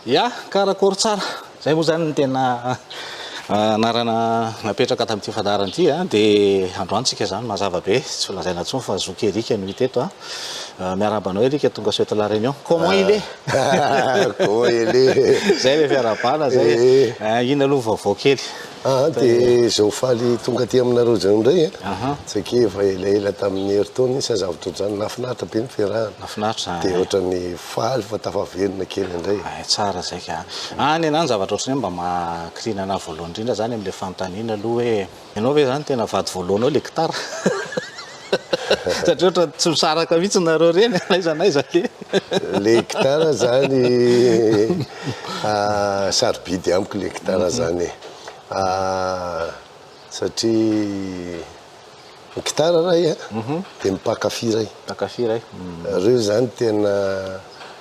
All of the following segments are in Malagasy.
Ya, karakôry tsara. Zay moa zany ny tena ah, anarana napetraka tamin'ity fandaharana ity a, ah. dia androany tsika zany mazava be, tsy ho lazaina intsony fa zoky Eric no hita eto a. Ah. Euh, miarahaba anao Eric tonga soeto la réunion comment il est ah, comment il est zay le fiarabana zay eh. ah, ina aloha vaovao kely ah de zao faly tonga aty aminareo zao indray eh. ah, saika efa elaela tamin'ny heritaona izy azavatra ohatrany nafinaritra be ny fiarahana nafinaritra de ohatrany faly fa tafaverina kely indray eh, tsara zay ka any anany zavatra ohatrany mba makrinana voalohany indrindra zany amin'le fanontaniana aloha hoe Ianao ve izany tena vady voalohanao ilay gitara? Satria ohatran'ny tsy misaraka mihitsy nareo reny n'aiza n'aiza anie. Ilay gitara izany sarobidy amiko ilay gitara izany e. Satria ny gitara raha i an, dia ny mpankafy iray. Mpankafy iray. Ireo izany tena,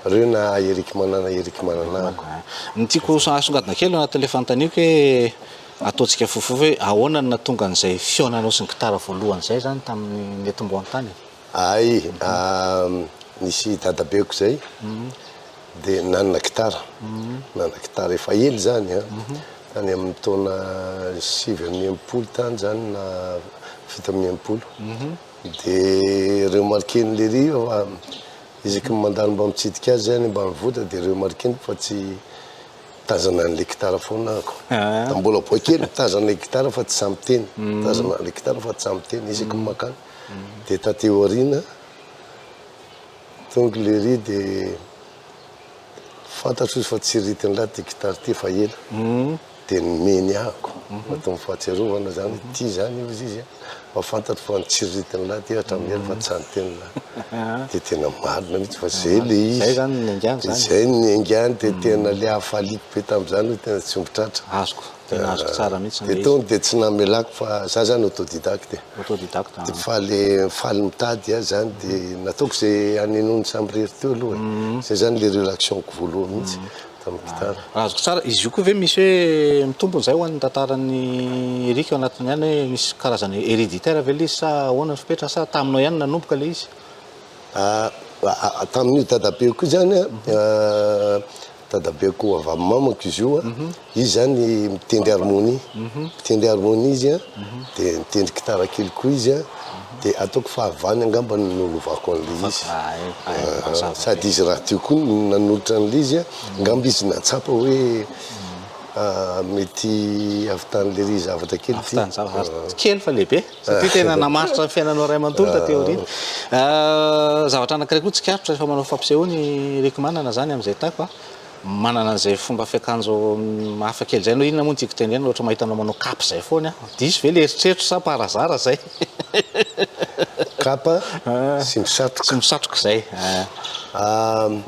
ireo na Erick Manana, Erick Manana amiko. Ny tiako asongadina kely anatin'ilay fanontaniako hoe. Ataontsika fohifohy hoe ahoana no nahatonga an'izay fihaonanao sy ny gitara voalohany izay izany tamin'ny netim-boantany e? Hay, nisy dadabeko izay dia nanana gitara, nanana gitara efa ela izany a, tany amin'ny taona sivy amby enimpolo tany izany na fito amby enimpolo, dia remarquer-n'i Léry io fa isaky ny mandalo mba mitsidika azy aho any ambanivohitra dia remarquer-ny fa tsy Tazana an'ilay gitara foana ahako. Tamin'ny mbola boay kely, mitazana ilay gitara fa tsy sahy miteny. Mitazana ilay gitara fa tsy sahy miteny, isaky ny mankany. Dia taty aoriana, tonga ilay ry dia fantatro izy fa tsy ry Tinlah ity gitara ity fa ela. Dia nomeny ahako, matoa ny fahatsiarovana izany, ity izany hoy izy. Fa fantatro fa nitsiriritiny lahy ty hatramin'ny ela fa tsy any teny lahy. Dia tena marina mihitsy fa izay ilay izy. Izay izany ny niaingàny izany. Izay ny niaingàny dia tena ilay hafaliako be tamin'izany hoe tena tsy omby tratra. Azoko, tena azoko tsara mihitsy ilay izy. Dia tony dia tsy namelàko fa izaho izany autodidacte e. Autodidacte an. Dia faly faly mitady aho izany dia nataoko izay hanenony samirery teo aloha e. Izay izany ilay relaxionko voalohany mihitsy. Raha azoko tsara, izy io koa ve misy hoe mitombona izay ho an'ny tantaran'i Eric ao anatiny ihany hoe misy karazana hereditaire ve ilay izy sa ahoana ny fepetra sa taminao ihany nanomboka ilay izy? Tamin'io dadabeako io zany an, dadabeako avy amin'ny mamako izy io an, izy zany mitendry harmonie, mitendry harmonie izy an, dia mitendry gitara kely koa izy an. Dia ataoko fahavany angamba no nolovako an'ilay izy. Fa raha hay, hay ny mazava be. Sady izy rahateo koa no nanolotra an'ilay izy a, angamba izy nahatsapa hoe mety havitan'ilay ry zavatra kely ity. Havitan'ny zavatra tsy kely fa lehibe, satria tena namaritra ny fiainanao iray manontolo taty aoriana. Zavatra anankiray koa tsikaritro rehefa manao fampisehoana i Rick Manana izany amin'izay taiko a, Manana an'izay fomba fiakanjo hafa kely izay anao, inona moa no tiako tenenina, ohatra mahita anao manao kapa izay foana aho, diso ve ilay eritreritro sa par hasard izay? Kapa sy misatroka. Sy misatroka izay an.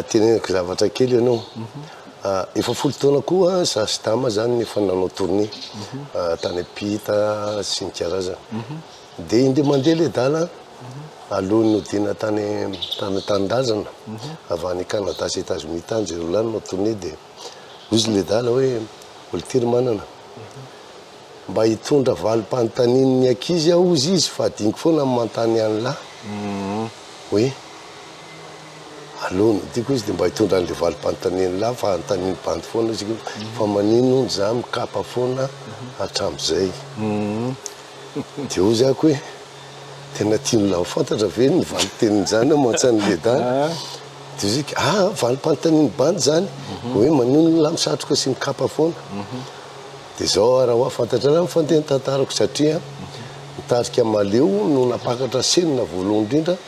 Teneniko zavatra kely anao, efa folo taona koa za sy Dama izany no efa nanao tournée tany am-pita sy ny karazany. Dia indry mandeha ilay dala alohan'ny hodiana tany tany an-tanindrazana avy any Canada sy Etazonia tany izay ho lany no tournée dia hoy izy ilay dala hoe Olitiry Manana mba hitondra valim-panontanian'ny ankizy aho hozy izy fa hadinoko foana ny manontany an'lah hoe alohan'ny hodiako izy dia mba hitondra an'ilay valim-panontanian'ny lah fa hanontanian'ny bandy foana izy fa manino hono za mikapa foana hatramin'izay De ozy ako hoe tena tian'la ho fantatra ve ny valintenin'izany aman-tsain'i Leda? De ozy iko ah valim-panontanian'ny bandy izany hoe manonona ny satroka sy ny kapa foana? De zao ara hoa fantatrareo ny fandehan'ny tantarako satria ny tarika Maleo no nampakatra senina voalohany indrindra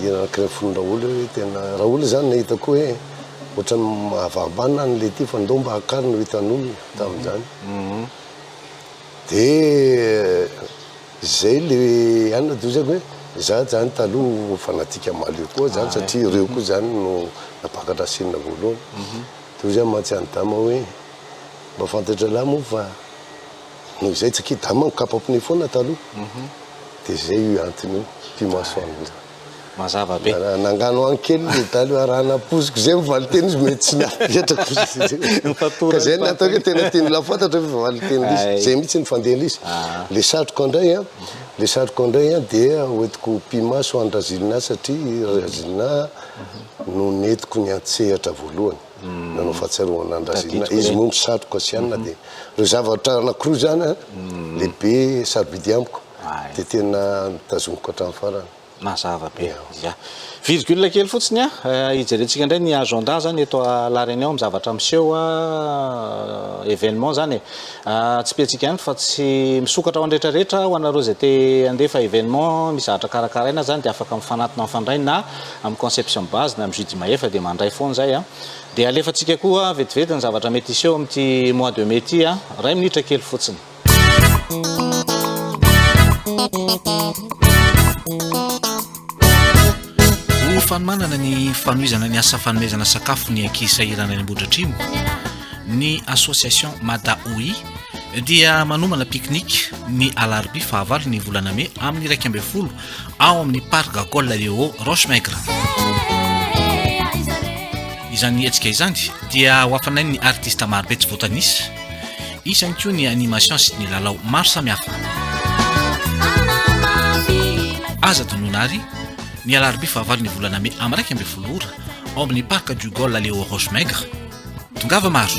Hira anankiray fony Raoly hoe tena Raoly zany nahita koa hoe ohatrany mahavarimbana any le ty fa ndao mba akary no hitan'olona tamin'izany. Mhm. De zay le any na dozako hoe za zany taloha no fanatika Mahaleo koa zany satria ireo koa zany no nampakadrasinina voalohany. Mhm. De hoy zany mantsy any Dama hoe mba fantatralahy moa fa. Noho izay tsy kida manko kapa pneu foana taloha dia zay io antony io ity maso ango io. Mazava be. Nangano any kely le dala io arahana poziko zay ny valinteny izy mety tsy nahapetrako izy. Ka zay nataoko hoe tena tian'i la fantatra ve valinteny lisy. Zay mihitsy ny fandeha lisy. Le satroko indray an, le satroko indray an dia hoentiko pimaso any Razilinah satria Razilinah no nentiko niantsehatra voalohany. Nanao fahatsiarovana an-dRazelina izy moa misatroka tsy hanina dia ireo zavatra anankiroa izany an, lehibe sarobidy amiko dia tena notazomiko hatramin'ny farany. Mazava be. Ya. Virgule kely fotsiny an, hijerentsika indray ny agenda izany eto à La Réunion ny zavatra miseho événement izany e. Tsipiantsika ihany fa tsy misokatra ho an'ny rehetra rehetra, ho anareo izay te handefa événement misy zavatra karakaraina izany dia afaka mifanatona mifandray na amin'ny conception base na amin'ny JD mahefa dia mandray foana izay an! dia alefantsika koa vetivety ny zavatra mety hiseho amin'ity mois de mai ity an! iray minitra kely fotsiny. Ho fanomanana ny fanohizana ny asa fanomezana sakafo ny ankizy sahirana any Ambohidratrimo, ny association Madaoi dia manomana pique-nique ny alarobia fahavalo ny volana mey amin'ny iraika ambin'ny folo ao amin'ny Parc Gagol eo Roche Maigre. Izany hetsika izany dia ho hafanay ny artista marobe tsy voatanisa, isany koa ny animation sy ny lalao maro samihafa. Aza tonona ary ny alarobia fahavalon'ny volana mey amin'ny iraika ambin'ny folo ora ao amin'ny Parc Gagol eo Roche Maigre. Tongava maro.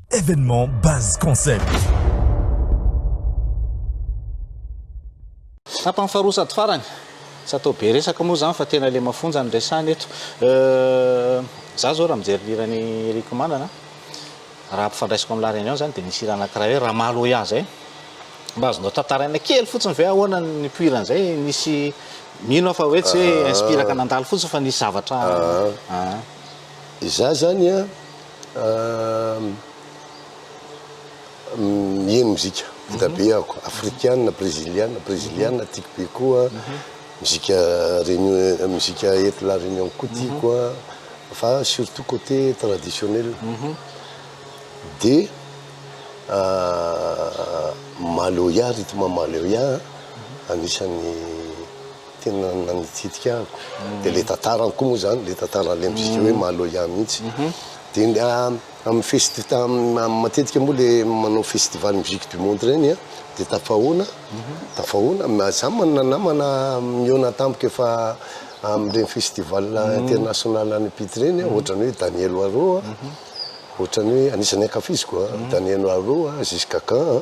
Evenement Buzz Concept. Tapany faharoa sady farany. Tsy atao be resaka moa izany fa tena ilay mafonja no resahina eto. Izaho izao raha mijery ny hiran'i Eric Manana, raha ampifandraisiko amin'ny La Réunion izany dia nisy hira anankiray hoe Ramaloya izay. Mba azonao tantaraina kely fotsiny ve ahoana ny nipoirany izay? Nisy, mino aho fa hoe tsy hoe inspiraka nandalo fotsiny fa nisy zavatra. Izaho izany an. Miheno mozika vita be ako, afrikana, breziliana, breziliana tiako be koa, mozika réunion, mozika eto La Réunion koa tiako an, fa surtout côté traditionnel. Dia maloya, rythme maloya an, anisan'ny. tena nanitsidika ahy dia ilay tantarany koa moa izany, ilay tantaran'ilay mozika hoe Maloya mihitsy. Dia amin'ny festi- amin'ny matetika moa ilay manao festival musique du monde ireny an, dia tafahaona, tafahaona, ma- izaho manana namana mihaona tampoka efa amin'ireny festival international any Pite ireny an, ohatran'ny hoe Daniel Waro an, ohatran'ny hoe, anisan'ny ankafiziko an, Daniel Waro an, Jis Kakan an.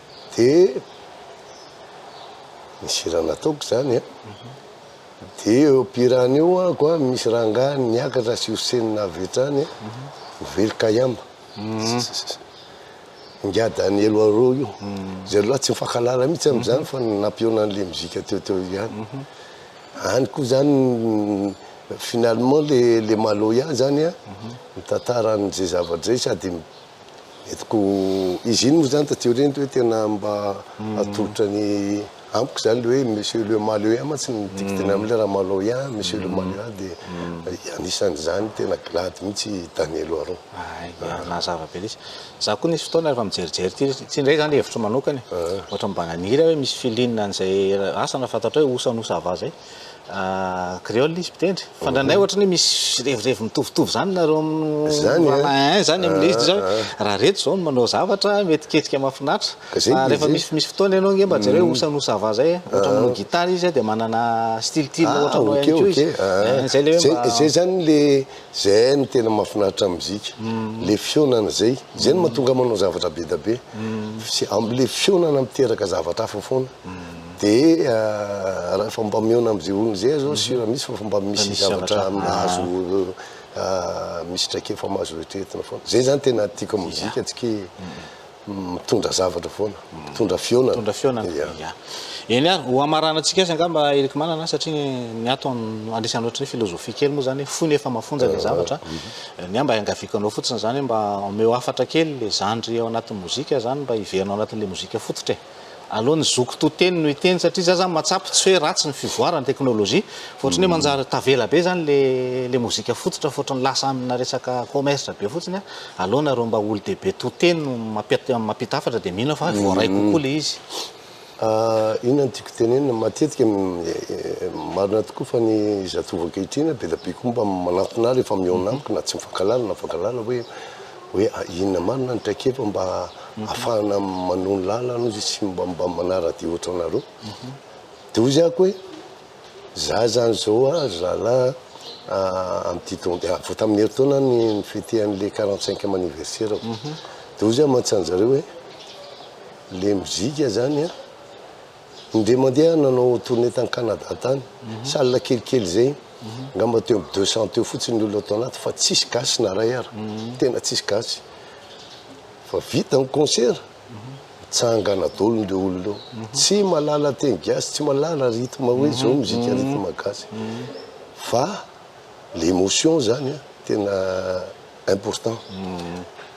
Dia nisy raha nataoko izany an, dia eo am-pihirana eo ako an, misy rangahy niakatra sy hosenina avy hatrany an, very kayamba, ingahy Daniel Waro io, izay lehilahy tsy mifankahalala mihitsy amin'izany fa nampihaona an'ilay mozika teo teo ihany, any koa izany finalement ilay Maloya izany an, mitantara an'izay zava-dray sady Eto ko izy iny moa zany taty aoriana hoe tena mba atolotra ny amiko zany le hoe monsieur le Maleoien mantsy ny dicteny aminy le raha Maloian, monsieur le Maloian de anisany zany tena glady mintsy i Daniel Oharon. Aia nazava be letsy. Za ko nisy fotoana refa mijerijery ty ty ndray zany hevitro manokana e, ohatran mba naniry aho hoe misy feeling an'izay asa na fantatrao hoe osa no ça va zay. créole izy mpitendry fa ndraindray ohatra ny hoe misy revirevy mitovitovy zany nareo Zany, eh? rahalahy zany amin'ilay izy zao hoe, raha reto zao no manao zavatra mety hiketsika mahafinaritra Ka zay fa rehefa dia misy misy fotoana ianao nge mba jereo hoe osa no ça va zay ohatra manao guitare izy dia manana style-tily Ah, ohatra anao ok, ihany koa ok. izy Ah, Eh, zay le hoe zay- mba Zay zany le, zay no tena mahafinaritra amin'ny mozika. Le fihaonana zay. Zay no mahatonga ahy manao zavatra be dia be. Sy am- le fihaonana miteraka zavatra hafa foana. Dia rehefa mba mihaona amin'izay olona izay aza aho sûr mihitsy fa mba misy zavatra mahazo misy traikefa mahazo eritreretina foana. Izay izany tena tiako amin'ny mozika tsy ke mitondra zavatra foana, mitondra fihaonana. Mitondra fihaonana, ya. Eny ary, ho hamaranantsika azy angamba Erick Manana satria ny ato andresana ohatran'ny hoe philosophie kely moa izany hoe fohy nefa mafonja ilay zavatra. Ny ahy mba iangaviako anao fotsiny izany hoe mba omeo hafatra kely ilay zandry ao anatin'ny mozika izany mba hiverina ao anatin'ilay mozika fototra e. Aleo ny zoky to teny no hiteny satria za zany mahatsapa tsy hoe ratsy ny fivoaran'ny teknolojia fa ohatran'ny hoe manjary tavela be zany le le mozika fototra fa ohatran'ny lasa amina resaka commerce be fotsiny a. Aleo nareo mba olo-dehibe to teny no mampiat- mampita hafatra de mino aho fa voaray kokoa le izy. Inona no tiako tenenina, matetika marina tokoa fa ny zatovo ankehitriny be dia be koa mba manantona ahy rehefa mihaona amiko na tsy mifankahalala na mifankahalala hoe hoe inona marina ny traikefa mba afahana manony lalana ozy sy mba mba manaradia ohatra anareo de ozy ako hoe za zany zao a zala amty taon de avy tamin'ny herintaona ny fete an'le quarante cinq ème anniversaire de ozy aho manontany zareo hoe le mozika zany a Indray mandeha aho nanao tournée tany Canada tany, salle kelikely izay, angamba teo amin'ny deux cents teo fotsiny ny olona tao anaty fa tsisy gasy na iray ary, tena tsisy gasy. Fa vita ny concert, mitsangana daholo ireo olona eo. Tsy mahalala teny gasy, tsy mahalala rythme hoe izao mozika rythme gasy. Fa l'émotion izany an, tena. important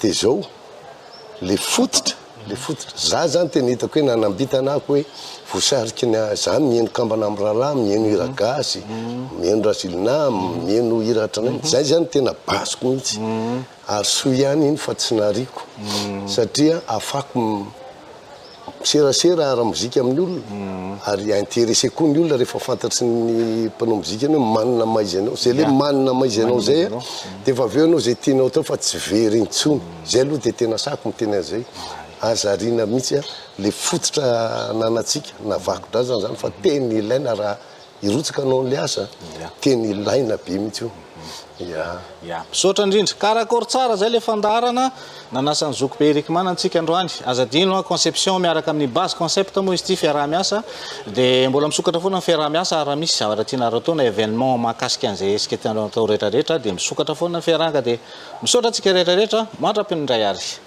de zao le fototra le fototra za zany tena hitako hoe nanambitana ako hoe vosariky ny za mihaino kambana am rala mihaino hira gasy mihaino rasilina mihaino hira hatranainy zay zany tena basiko mihitsy ary soa ihany iny fa tsy nariako satria afako Miserasera ara-mozika amin'ny olona ary intéressé koa ny olona rehefa fantatry ny mpanao mozika anao hoe manina maha izy anao. Izay ilay manina maha izy anao izay dia efa avy eo ianao izay tianao atao fa tsy very intsony. Izay aloha dia tena sahako miteny an'izay. Aza ariana mihitsy ilay fototra ananantsika na vakodrazana izany fa tena ilaina raha Hirotsaka anao le asa tena ilaina be mihitsy io. Ya. Ya. Misaotra indrindra. Karakôry tsara zay le fandaharana nanasa ny zokibe Eric Mana antsika androany. Aza adino an, conception miaraka amin'ny base concept moa izy ity fiaraha-miasa dia mbola misokatra foana ny fiaraha-miasa ary raha misy zavatra tianareo atao na événement mahakasika an'izay hetsika tianareo atao rehetra rehetra dia misokatra foana ny fiarahana dia misaotra antsika rehetra rehetra mandra-pinindray ary.